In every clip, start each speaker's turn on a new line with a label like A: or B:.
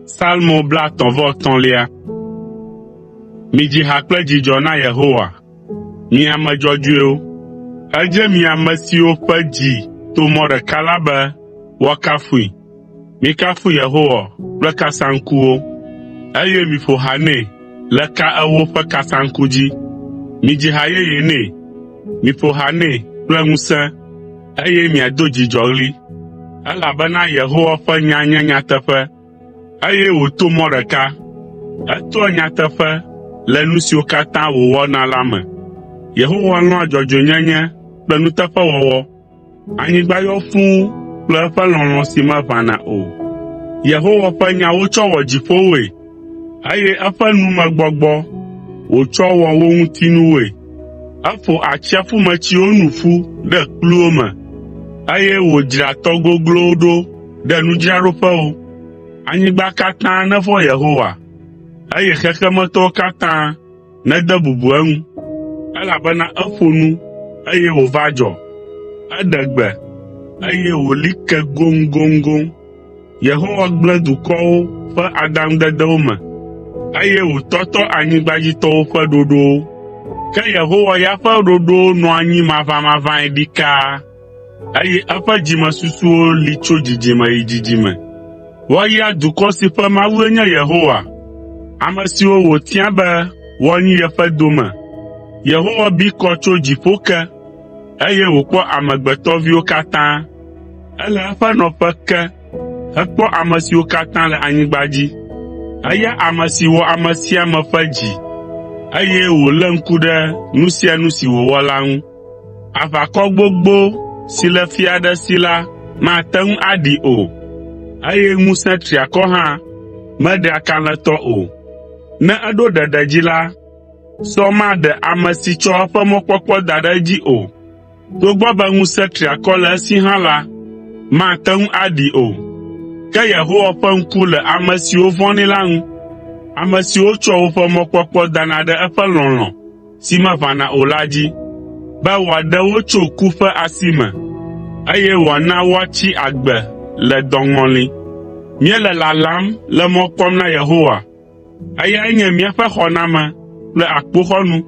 A: Salmo blatɔ̃ vɔ tɔ̃lia. Midzi ha kple dzidzɔ na Yehowa, mi ame dzɔdzɔewo. Edze mi ame siwo ƒe dzi to mɔ ɖeka la be woakafui, Mikafu Yehowa kple kasaŋkuwo, eye miƒo ha nɛ le ka ewo ƒe kasaŋku dzi. Midzi ha yeye nɛ, miƒo ha nɛ kple ŋusẽ, eye miado dzidzɔɣli. Elabena Yehowa ƒe nya nye nyateƒe, eye wòto mɔ ɖeka. Etoa nyateƒe le nu siwo katã wòwɔna la me. Yehowa lɔ̃a dzɔdzɔenyenye kple nuteƒewɔwɔ, Anyigba yɔ fũu kple eƒe lɔlɔ̃ si meʋãna o. Yehowa ƒe nya wotsɔ wɔ dziƒowoe, eye eƒe numegbɔgbɔ wòtsɔ wɔ wo ŋutinuwoe. Eƒo atsiaƒumetsiwo nu ƒu ɖe kpluwo me, eye wòdzra tɔ goglowo ɖo ɖe nudzraɖoƒewo. Anyigba katã nevɔ̃ Yehowa, eye xexemetɔwo katã nede bubu eŋu, elabena eƒo nu, eye wòva dzɔ. Eɖe gbe, eye wòli ke goŋgoŋgoŋ. Yehowa gblẽ dukɔwo ƒe adaŋudedewo me, eye wòtɔtɔ anyigbadzitɔwo ƒe ɖoɖowo. Ke Yehowa ya ƒe ɖoɖowo nɔ anyi mavamavãe ɖikaa. eye eƒe dzimesusuwo li tso dzidzime yi dzidzime. Woayra dukɔ si ƒe Mawue nye Yehowa, ame siwo wòtia be woanyi yeƒe dome. Yehowa bi kɔ tso dziƒo ke, eye wòkpɔ amegbetɔviwo katã. Ele eƒe nɔƒe ke hekpɔ ame siwo katã le anyigba dzi. Eya ame si wɔ ame sia ame ƒe dzi, eye wòlé ŋku ɖe nu sia nu si wòwɔ la ŋu. Aʋakɔ gbogbo si le fia aɖe si la mate ŋu aɖii o, eye ŋusẽ triakɔ hã meɖea kalẽtɔ o. Ne eɖo ɖeɖe dzi la, sɔ maɖe ame si tsɔ eƒe mɔkpɔkpɔ da ɖe edzi o. Togbɔ be ŋusẽ triakɔ le esi hã la, mate ŋu aɖii o. Ke Yehowa ƒe ŋku le ame siwo vɔ̃nɛ la ŋu, ame siwo tsɔa woƒe mɔkpɔkpɔ dana ɖe eƒe lɔlɔ̃, si meʋãna o la dzi, be wòaɖe wo tso ku ƒe asi me, eye wòana woatsi agbe le dɔŋɔli. Míele lalam le mɔ kpɔm na Yehowa. Eyae nye míaƒe xɔname kple akpoxɔnu.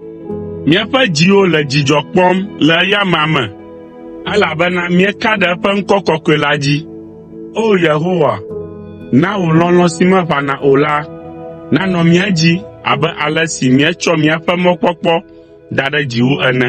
A: Míaƒe dziwo le dzidzɔ kpɔm le eya amea me, elabena míeka ɖe eƒe ŋkɔ kɔkɔe la dzi. O Yehowa, na wò lɔlɔ̃ si meʋãna o la nanɔ mía dzi abe ale si míetsɔ míaƒe mɔkpɔkpɔ da ɖe dziwò ene.